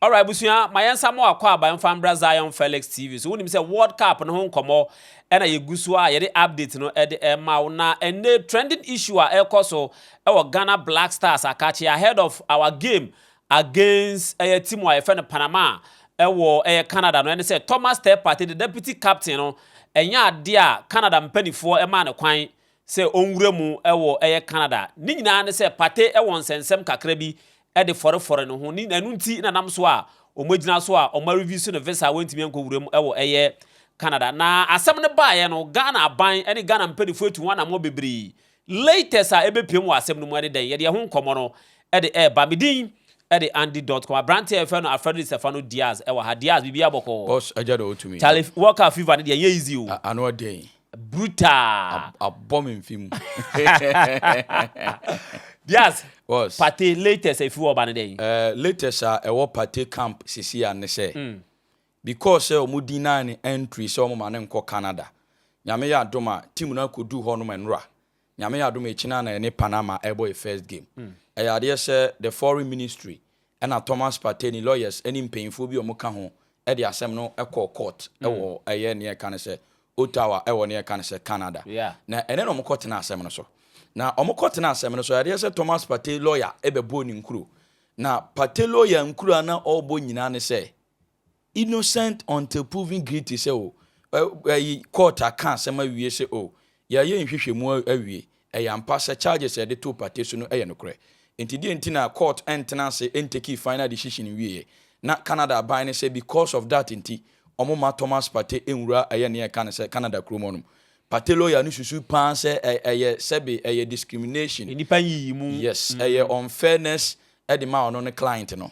Alright abusua, ma yɛn nsa mo akwaaba mfa mbra Zion Felix TV so. Wonim sɛ World Cup no ho nkɔmmɔ ɛna yɛgu so a yɛde update no ɛde ɛma wo. Na ɛnɛ trending issue a ɛkɔ so ɛwɔ Ghana Black Stars akakye ahead of our game Against ɛyɛ team a yɛfrɛ no Panama a ɛwɔ ɛyɛ Canada no ɛne sɛ Thomas Teppert the deputy captain no ɛnyɛ adeɛ a Canada mpanifoɔ ɛmaa no kwan sɛ ɔnwura mu ɛwɔ ɛyɛ Canada ne nyinaa ne sɛ Partey ɛwɔ nsɛnsɛm kakra bi ɛde fɔrefɔre ne ho ne ɛno nti na nam so a ɔmo agyina so a ɔmo areviews no visa a wantumi ankɔ wura mu ɛwɔ ɛyɛ Canada na asɛm no baeɛ no Ghana aban ɛne Ghana mpanifoɔ atu ho anamɔ bebree Latest a ɛbɛpiam wɔ asɛm no mu ne dɛn? Yɛde ɛho nkɔmmɔ no de reba. Me din de Andy Dotko. Aberanteɛ a yɛfrɛ no Alfredo Di Stefano Diaz wɔ ha. Diaz, biribiara bɔkɔɔ? Boss, agya na ɔtumi. Charlie Walker fever no deɛ ɛnyɛ easy o. Ano ɛden. Brutal. Abɔ me mfe mu. Diaz, Boss. Partey latest a ɛfiri hɔ reba ne dɛn? Eh, latest a ɛwɔ Partey camp seesei ara ne sɛ, Because sɛ ɔmo deny no entry sɛ ɔmo ma no nkɔ Canada. Nyame yɛ adom a, team no akoduu hɔ nom nnora. Nyame yɛ adom a akyina na yɛne Panama ɛɛbɔ yɛ first game. Ɛyɛ adeɛ sɛ the foreign ministry ɛna Thomas Partey ne lawyers ɛne mpaninfoɔ bi a ɔmo ka ho ɛde asɛm no ɛkɔɔ court ɛwɔ ɛyɛ neɛ yɛka no sɛ Ottawa ɛwɔ neɛ yɛka no sɛ Canada. Na ɛnɛ na ɔmo kɔ tenaa asɛm no so. Na ɔmo kɔ tenaa asɛm no so, ɛyɛ adeɛ sɛ Thomas Partey lawyer ɛbɛbɔɔ ne nkuro. Na Partey lawyer nkuro a na ɔɔbɔ nyinaa ne sɛ. Innocent until proven guilty sɛ oh, ɛyi court aka asɛm awie sɛ oh, yɛayɛ nhwehwɛmu awie, ɛyɛ ampa sɛ charges a yɛde too Partey so no yɛ nokorɛ. Nti deɛ nti na court ntena ase ntakii final decision nwieɛ? Na Canada aban no sɛ because of that nti, wɔn mma Thomas Partey nwura ɛyɛ nea yɛka no sɛ Canada kurom hɔ nom. Partey lawyer no susu paa sɛ ɛyɛ sɛbe ɛyɛ discrimination, Nnipa nyiyimu. yes, ɛyɛ unfairness de ma ɔno ne client no.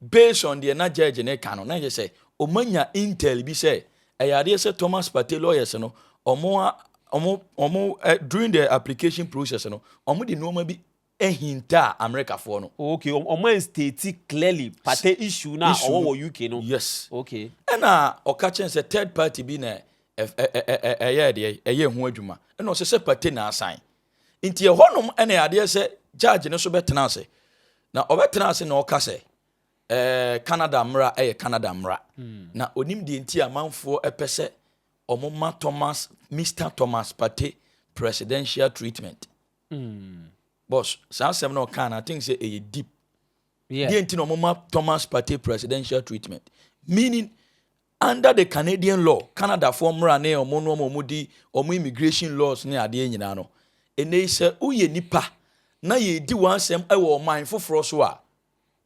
Based on deɛ na judge no reka no, na kyerɛ sɛ wɔanya intel bi sɛ ɛyɛ adeɛ sɛ Thomas Partey lawyers no, wɔn wɔn wɔn during the application process no, wɔde nneɛma bi hintaa Amerikafoɔ no. Oh, okay, wɔn wɔn state clearly Partey issue na ɔwɔ wɔ UK no. Yes. Okay. Ɛna ɔka kyɛn sɛ third party bi na ɛyɛ deɛ ɛyɛ ho adwuma. Ɛna ɔsɛ sɛ Partey na asan. nti ɛhɔnom ɛna adeɛ sɛ judge no so bɛtena ase na ɔbɛtena ase na ɔka sɛ ɛɛ Canada mmara ɛyɛ Canada mmara hmm. na onim deɛ nti amanfoɔ ɛpɛ sɛ wɔn ma Thomas Mr Thomas Partey presidential treatment mm. boss saa asɛm na ɔka na I think sɛ ɛyɛ deep deɛ nti na wɔn ma Thomas Partey presidential treatment meaning Under the Canadian law, Canadafoɔ mmra ne ɔmo no ɔmo ɔmo di ɔmo immigration laws ne adeɛ nyinaa no, enei sɛ wo yɛ nipa na yɛ di w'asɛm wɔ ɔman foforɔ so a,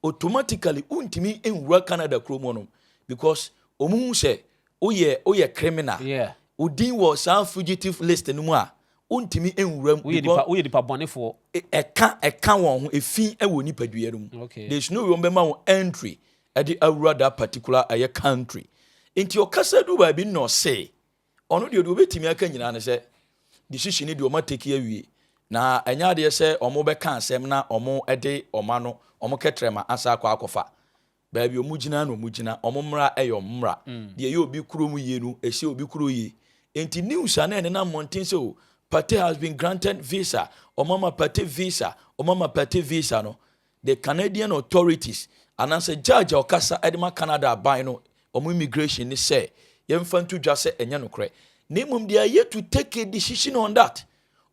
automatically wo ntumi nwura Canada kuro mu hɔnom because ɔmo hu sɛ wo yɛ wo yɛ criminal, Yeah. wo din wɔ saa fugitive list no mu a, wo ntumi nwura mu Wo yɛ because nipa wo yɛ nipa bɔnefoɔ. e- ɛka ɛka wɔn ho efi wɔ nipadua no mu, Okay. there's no way wɔn bɛma wo entry ɛde awura that particular ɛyɛ country nti ɔkasa du baabi na ɔse ɔno deɛ deɛ ɔbɛtumi aka nyinaa ne sɛ decision deɛ ɔma take awie na ɛnyɛ adeɛ sɛ ɔmo bɛka asɛm na ɔmo ɛde ɔma no ɔmo kɛtrɛ ma asa akɔ akɔfa baabi ɔmo gyina na ɔmo gyina ɔmo mmra ɛyɛ ɔmo mmra mm. deɛ ɛyɛ obi kuro mu yie no ɛsɛ obi kuro yie nti news a na ɛne na mmɔnten sɛ o Pate has been granted visa ɔmama Pate visa ɔmama Pate visa no the Canadian authorities anaasɛ judge a ɔkasa de ma Canada aban no, wɔn immigration ne sɛ yɛmfa nto dwa sɛ ɛnyɛ nokorɛ. Na mmom deɛ ayɛ to take a decision on that.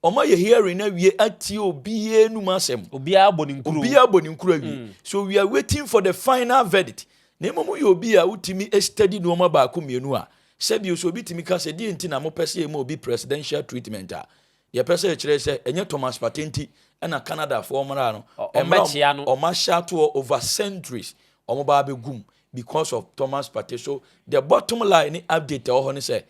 Wɔn ayɛ hearing no awie atie obiara anum asɛm. Obiara bɔ ne nkuro. Obiara bɔ ne nkuro awie. Mm. So we are waiting for the final verdict. Na mmom yɛ obi a wotumi study nneɛma baako mmienu a sɛbi so obi tumi ka sɛ deɛ nti na mopɛ sɛ yɛma obi presidential treatment a Yɛpɛ sɛ yɛkyerɛ sɛ ɛnyɛ Thomas Partey nti na Canadafoɔ mmara no, mmara a wɔahyɛ ato hɔ over centuries, wɔba abɛgu mu because of Thomas Partey. So the bottom line ne update a ɛwɔ hɔ ne sɛ,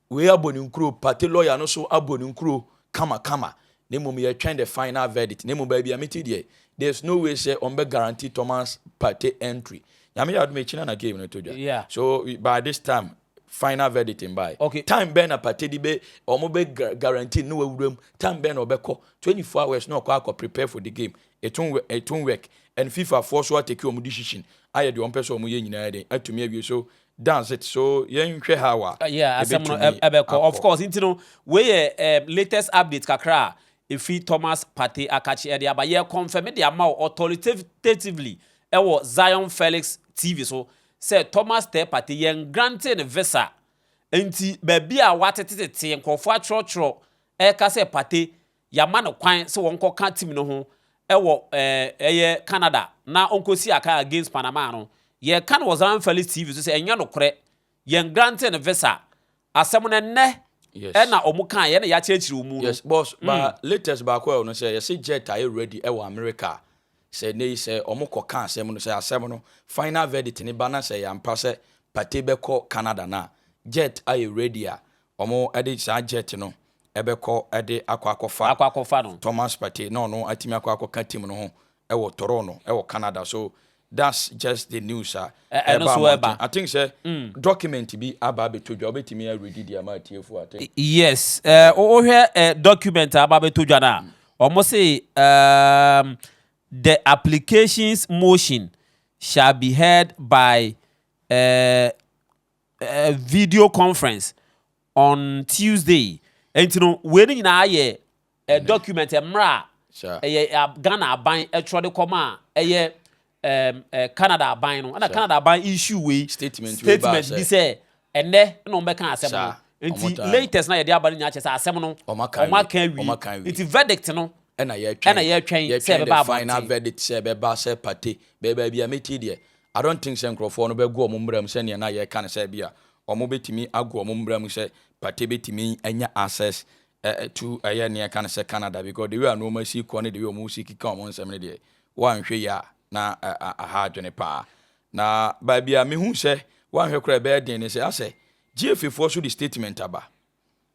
wei abɔ ne nkuro, Partey lawyer no nso abɔ ne nkuro kama kama, na mmom yɛretwɛn the final verdict. Na mmom baabi a mete deɛ, there is no way sɛ wɔbɛ guarantee Thomas Partey entry. Nyame yɛ adom akyi no na game no to dwa. So by this time, final verdict mbae ok time bɛn na patedi bɛ ɔmo bɛ guarantee ne wawura mu time bɛn na ɔbɛkɔ twenty four hours na ɔkɔ akɔ prepare for the game it won it won work and fifa foɔ so ateki ɔmo decision ayɛ deɛ ɔmo pɛ sɛ ɔmo yɛ nyinaa dɛn atumi awie so that's it so yɛn hwɛ how a yeah asɛm no ɛbɛtumi ɛbɛkɔ of akɔ. course nti no wei yɛ ɛm latest update kakra a efi thomas partey akakye ɛde aba yɛ confirm de ama wo authoritatively ɛwɔ zion felix tv so sɛ Thomas Tse Pate yɛ ngrantee no visa nti baabi a wɔatetetete nkorɔfoɔ atwerɛtwerɛ reka sɛ Pate yɛama no kwan sɛ ɔnkɔka team no ho wɔ ɛyɛ Canada na ɔnkɔsi akan against Panama no, yɛreka no wɔ Zamfali's TV so sɛ ɛnyɛ nokorɛ, yɛ ngrantee no visa Asɛm no ɛnnɛ Yes. ɛna ɔmo kaa yɛ na yɛakyerɛkyerɛ ɔmu no. Yes boss ba latest baako a ɛwɔ no sɛ yɛse jet ayɛ ready ɛwɔ America a sɛ ɛnɛ yi sɛ ɔmo kɔ ka asɛm no sɛ asɛm no final verdict no ba na sɛ ɛyɛ ampa sɛ Partey bɛkɔ Canada no a jet ayɛ ready a ɔmo ɛde saa jet no ɛbɛkɔ ɛde akɔ akɔfa Akɔ akɔfa no. Thomas Partey na ɔno atumi akɔ akɔka team no ho wɔ Toronto wɔ Canada so that's just the news a ɛba mmɔnten I think sɛ document bi aba abɛtɔ dwa wobɛtumi aredi de ama atiefo I think yes wohwɛ document a aba abɛtɔ dwa no a wɔn se um, the applications motion shall be heard by uh, video conference on Tuesday. Enti no, wei no nyinaa yɛ mm-hmm. document mmerɛ a ɛyɛ Ghana aban ɛtwerɛ de kɔma a ɛyɛ Canada aban no ɛna Canada aban issue wei statement bi sɛ ɛnɛ na wɔn bɛka asɛm no nti latest na yɛde aba no nyinaa kyɛ sɛ asɛm no wɔn aka wie nti verdict no ɛna yɛtwɛn ɛna yɛtwɛn sɛ ɛbɛba abɔnten final verdict sɛ ɛbɛba sɛ pate bɛɛba bi a meti deɛ I don't think sɛ nkurɔfoɔ no bɛgo wɔn mmra mu sɛdeɛ na yɛka no sɛ ebia wɔbɛtumi ago wɔn mmra mu sɛ Partey bɛtumi anya access to ɛyɛ ne yɛka no sɛ Canada because the way a nnoɔma si kɔ ne the way wɔn si keka wɔn nsɛm no deɛ woanhwɛ yi a na aha adwene paa na baabi a mehu sɛ woanhwɛ koraa ɛbɛyɛ den ne sɛ asɛ GFAfoɔ so de statement aba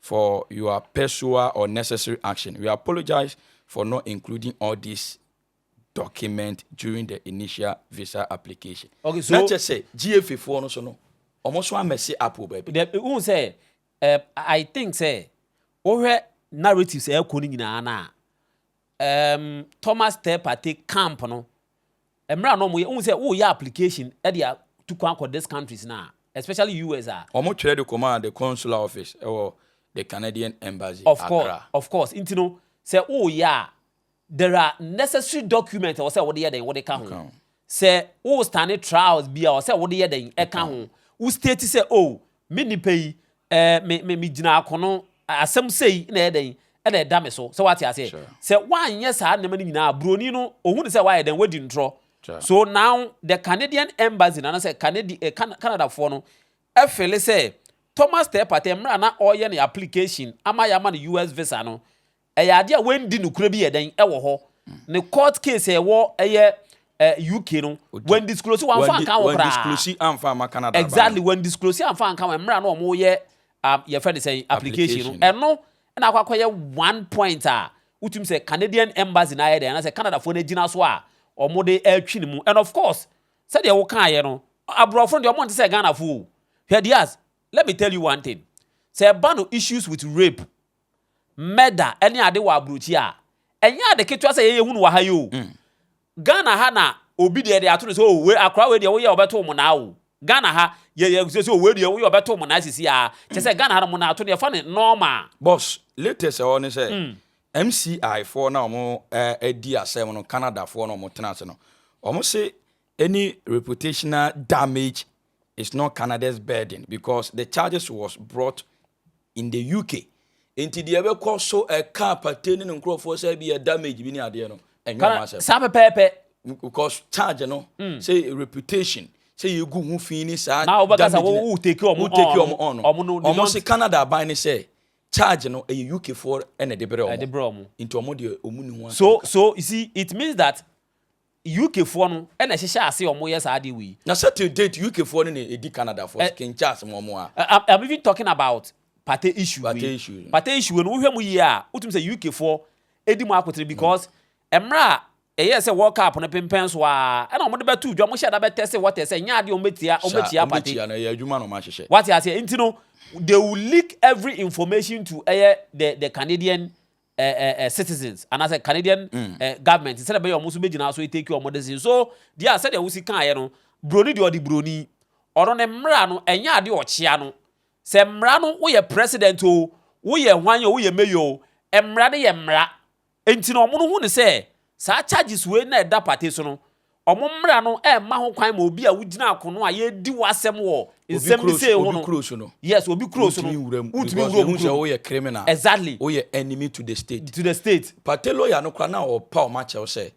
for your persual or necessary action. We apologize for not including all these document during the initial visa application. Okay, so. Na kyɛ sɛ GFA foɔ no so no, wɔn so amɛse app wɔ baabi. Dɛ n sɛ eh, I think sɛ wohwɛ narratives a ɛkɔ no nyinaa no a, Erm Thomas Ter Party camp no mmra na ɔmo yɛ wohu sɛ woyɛ application de a tu kwan kɔ this countries no a especially US a. Ɔmo twerɛ de kɔmaa the consular office ɛwɔ the Canadian embassy Of course Accra. of course nti no sɛ woyɛ a there are necessary document ɛwɔ sɛ wode yɛ dɛn wode ka ho Ɛka ho. sɛ wo stane trials bi a ɛwɔ sɛ wode yɛ dɛn ɛka ho wo state sɛ oh Me nnipa yi, eh, me, me, megyina akono. Asɛm sei na ɛyɛ dɛn? Ɛna ɛda me so. Sɛ wate aseɛ? Sure. Sɛ woanyɛ saa nneɛma no nyinaa, buroni no, ɔhu no sɛ woayɛ dɛn? Woadi ntorɔ. Sure. So now, the Canadian embassy, no, anaasɛ Canadi, eh, Can, Canadafoɔ no, ɛfele sɛ Thomas Terpate, mmerɛ a na ɔreyɛ ne application ama yɛama no US visa no, Ɛyɛ adeɛ a wandi nokorɛ bi yɛ dɛn wɔ hɔ ne court case a ɛwɔ ɛyɛ eh, UK no wɔn disclose wɔn afa nka wɔn koraa exactly wɔn disclose anfa nka wɔn mmerɛ a na wɔn yɛ um, yɛfrɛ ne sɛn application no ɛno ɛna akɔ akɔyɛ one point a wotum sɛ Canadian embassy na ayɛ dɛn anasɛ Canada foɔ no agyina so a wɔn de ɛtwi ne mu and of course sɛdeɛ wokaeɛ no aborɔfo no deɛ wɔn nte sɛ Ghana foɔ o hwɛ Diaz let me tell you one thing sɛ ɛba no issues with rape murder ne ade wɔ abrokyi a, ɛnyɛ ade ketewa sɛ yɛn yɛhu no wɔ ha yi o. Ghana ha na obi deɛ yɛde ato no sɛ o wei akora wei deɛ woyɛ a wɔbɛto wo monaa o. Ghana ha yɛyɛ sɛ sɛ o wei deɛ woyɛ a wɔbɛto wo monaa sisi a, kyɛ sɛ Ghana ha no monaa to no yɛfa no normal. Boss, latest ɛhɔ ne sɛ MCI foɔ no a wɔn ɛdi asɛm no Canada foɔ no a wɔn tena ase no, wɔn se Any reputational damage is not Canada's burden because the charges was brought in the UK. Nti deɛ ɛbɛkɔ so ɛka apate ne ne nkurɔfoɔ sɛ bi yɛ damage bi ne adeɛ no ɛnyɛ ɔmo asɛm. Saa pɛpɛɛpɛ. Because charge no mm. sɛ reputation sɛ yɛgu ho fi ne saa damage no wo take ɔmo ɔmo no ɔmo no ɔmo se Canada aban ne sɛ charge no ɛyɛ UK foɔ ɛna ɛde brɛ ɔmo nti ɔmo deɛ ɔmo ni ho asɛm. So so you see it means that UK foɔ no na ɛhyehyɛ ase wɔn yɛ saa adeɛ wei. Na sɛ till date UK foɔ no na ɛdi Canada foɔ so King Charles mo wɔn a. I'm even talking about pate issue wei. Pate issue. Pate issue wei no wohwɛ mu yie a wotum sɛ UK foɔ ɛdi mu akotere because ɛmmerɛ a ɛyɛ sɛ World Cup no pempɛn so a ɛna wɔn de bɛ tu dwa wɔn hyɛ da bɛ test water sɛ nyɛ adeɛ wɔn bɛ tia wɔn bɛ tia pate. Sɛ wɔn bɛ tia no ɛyɛ adwuma na wɔn ahyehyɛ. Wate aseɛ nti no they will leak every information to ɛyɛ the the Canadian eh, eh, eh, citizens anaasɛ Canadian mm. eh, government sɛdeɛ bɛyɛ ɔmo nso bɛgyina so take ɔmo decision so deɛ a sɛdeɛ wosi kaeɛ no buroni deɛ ɔde buroni ɔno ne mmara no ɛnyɛ adeɛ ɔkyea no sɛ mmara no woyɛ president o woyɛ hwan o woyɛ mayor o mmara no yɛ mmara nti na ɔmo no hu ne sɛ saa charges wei na ɛda pate so no Wɔn mmara no mma ho kwan ma obi a wogyina akono a yɛredi ho asɛm wɔ nsɛmmisa yi ho no. Obi kuro so no. Yes, obi kuro so no. Wontumi nwura mu. Wontumi nwura mu. Because woyɛ criminal. Exactly. Woyɛ enemy to the state. To the state. Party lawyer no koraa na ɔpa wɔn akyɛw sɛ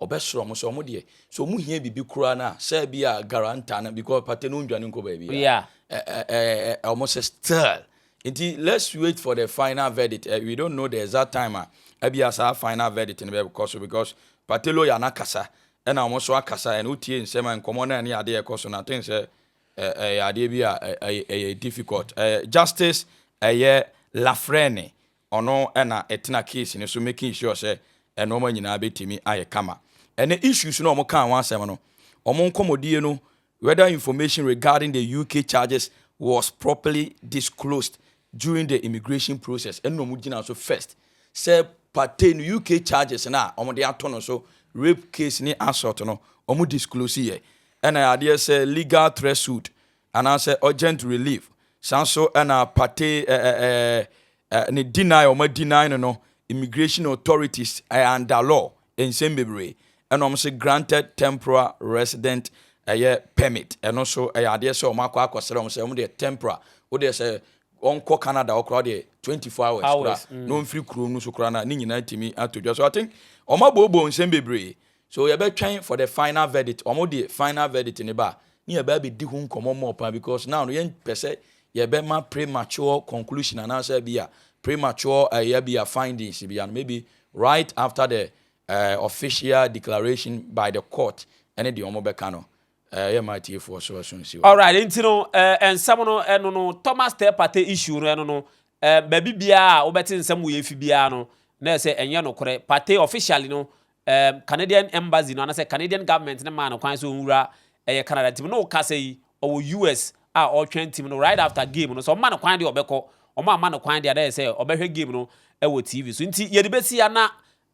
ɔbɛsrɛ wɔn sɛ wɔn deɛ sɛ wɔn hia biribi koraa na sɛ bi a guarantor no because party no nnwane nkɔ baabi a. Yeah. Ɛɛ ɛɛ wɔn sɛ still Nti let's wait for the final verdict eh, we don't know the exact time a ɛbia saa final verdict no bɛkɔ so because party lawyer no akasa ɛna wɔn nso akasa and wotie nsɛm a nkɔmmɔ no ɛne adeɛ ɛkɔ so no I think sɛ ɛyɛ adeɛ bi a ɛyɛ difficult justice ɛyɛ Lafrene ɔno ɛna ɛtena case no so making sure sɛ ɛnoɔma nyinaa bɛtumi ayɛ kama ɛne issues no wɔn kaa ho asɛm no wɔn nkɔmmɔdie no whether information regarding the UK charges was properly disclosed during the immigration process, ɛna wɔn gyina so first sɛ pate no UK charges no a wɔn de ato no so rape case ne assault no wɔn disclose yɛ ɛna adeɛ sɛ legal threat suit anaasɛ urgent relief san so ɛna pate ɛɛ ɛɛ ne deny wɔn deny no no immigration authorities ɛɛ under law nsɛm bebree ɛna wɔn se granted temporal resident ɛyɛ permit ɛno so ɛyɛ adeɛ sɛ wɔn akɔ akɔsrɛ wɔn sɛ wɔn deɛ temporal wodeɛ sɛ wɔn kɔ Canada wɔkora wɔdeɛ twenty four hours kora mm. na wɔn firi kurom no so kora na ne nyinaa tumi ato dwa so I think wɔn abooboo nsɛm bebree so yɛbɛtwɛn for the final verdict wɔn deɛ final verdict ne ba ne yɛbɛ abɛdi ho nkɔmɔ mɔ paa because now no yɛn pɛ sɛ yɛbɛma premature conclusion anaasɛ bi a premature ɛyɛ eh, bi a findings bi a no maybe Right after the official declaration by the court ɛne deɛ wɔn bɛka no yɛ mma atiefoɔ so ɛso nsi hɔ. Alright, nti no nsɛm no ɛno no Thomas Teh Partey issue no ɛno no baabi biara a wobɛte nsɛm wei afi biara no na ɛyɛ sɛ ɛnyɛ nokorɛ. Partey officially no Canadian embassy no anasɛ Canadian government no maa no kwan sɛ ɔnwura ɛyɛ Canada nti no na ɔkasa yi ɔwɔ US a ɔretwɛn team no right after game no sɛ ɔmma no kwan deɛ ɔbɛkɔ ɔmo amma no kwan deɛ a na yɛ sɛ ɔbɛhwɛ game no wɔ TV so nti yɛde bɛsi ya na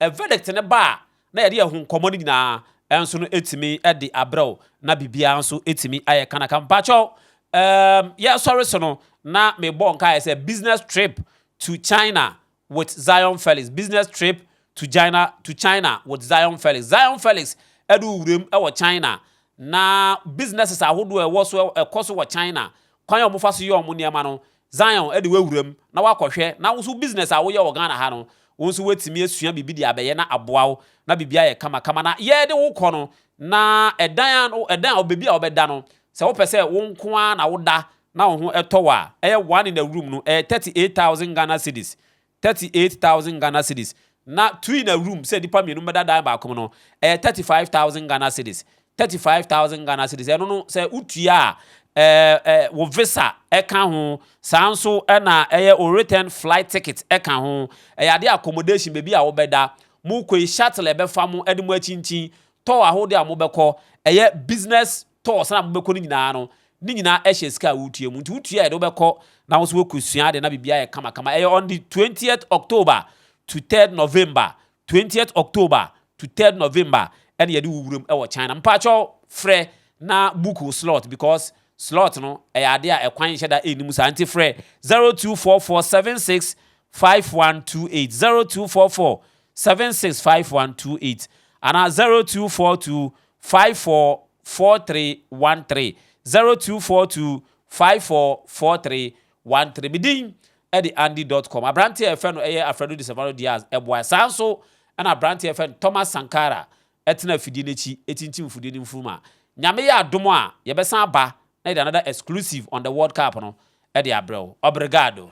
verdict no ba a na yɛde yɛn ho nkɔmɔ no nyinaa nso no ɛtumi de abrɛ wo na biribiara nso ɛtumi ayɛ kanaka mpakyɛw ɛɛm yɛsɔre so no na mebɔ nkaeɛ sɛ business trip to China with Zion Felix, Business Trip to China to China with Zion Felix. Zion Felix du wuram wɔ China, na businesses ahodoɔ a ɛwɔ so ɛkɔ so wɔ China, kwan a wɔfa so yɛ wɔn nneɛma no, Zion de wawuram na wakɔhwɛ, na wo nso business a woyɛ wɔ Ghana ha no, wo nso woatumi asua biribi de abɛyɛ na aboa wo, na biribi ayɛ kamakama. Na yɛde wo kɔ no, na ɛdan a ɛdan a baabi a wobɛda no, sɛ wopɛ sɛ wo nko ara na woda na wo ho tɔ wo a, ɛyɛ one in a room no, ɛyɛ thirty eight thousand Ghana cedis, thirty eight thousand Ghana cedis, na two in a room, sɛ nnipa mmienu bɛda dan baako mu no, ɛyɛ thirty five thousand Ghana cedis, thirty five thousand Ghana cedis, ɛno no sɛ wotua a, ɛɛ wo visa ɛka ho, saa nso na ɛyɛ wo return flight ticket ɛka ho, ɛyɛ adeɛ accommodation baabi a wobɛda, mokɔ yi shuttle ɛbɛfa mo ɛde mo akyinkyin, tour ahodoɔ a mobɛkɔ, ɛyɛ business tɔɔs no a mobɛkɔ no nyinaa no, ne nyinaa hyɛ sika a wotua mu. Nti wotua yɛde wobɛkɔ na wo nso woakɔsua ade na biribiara ayɛ kamakama. Ɛyɛ on the twentieth October to third November, twentieth October to third November ɛna yɛde wo wuram wɔ China. Mpakyɛw frɛ na book wo slot because slot no ɛyɛ ade a ɛkwan nhyɛ da nni mu saa. Nti frɛ zero two four four seven six five one two eight, zero two four four seven six five one two eight anaa zero two four two five four four three one three, zero two four two five four four three one three. Me din de Andy dot com. Aberanteɛ a yɛfrɛ no yɛ Alfredo de Salvador Diaz boaeɛ. Saa nso na aberanteɛ a yɛfrɛ no Thomas Sankara tena afidie no akyi tintim mfudie no mfuruma. Nyame yɛ adom a, yɛbɛsan aba na yɛde another exclusive on the world cup no de abrɛ wo. Obrigado.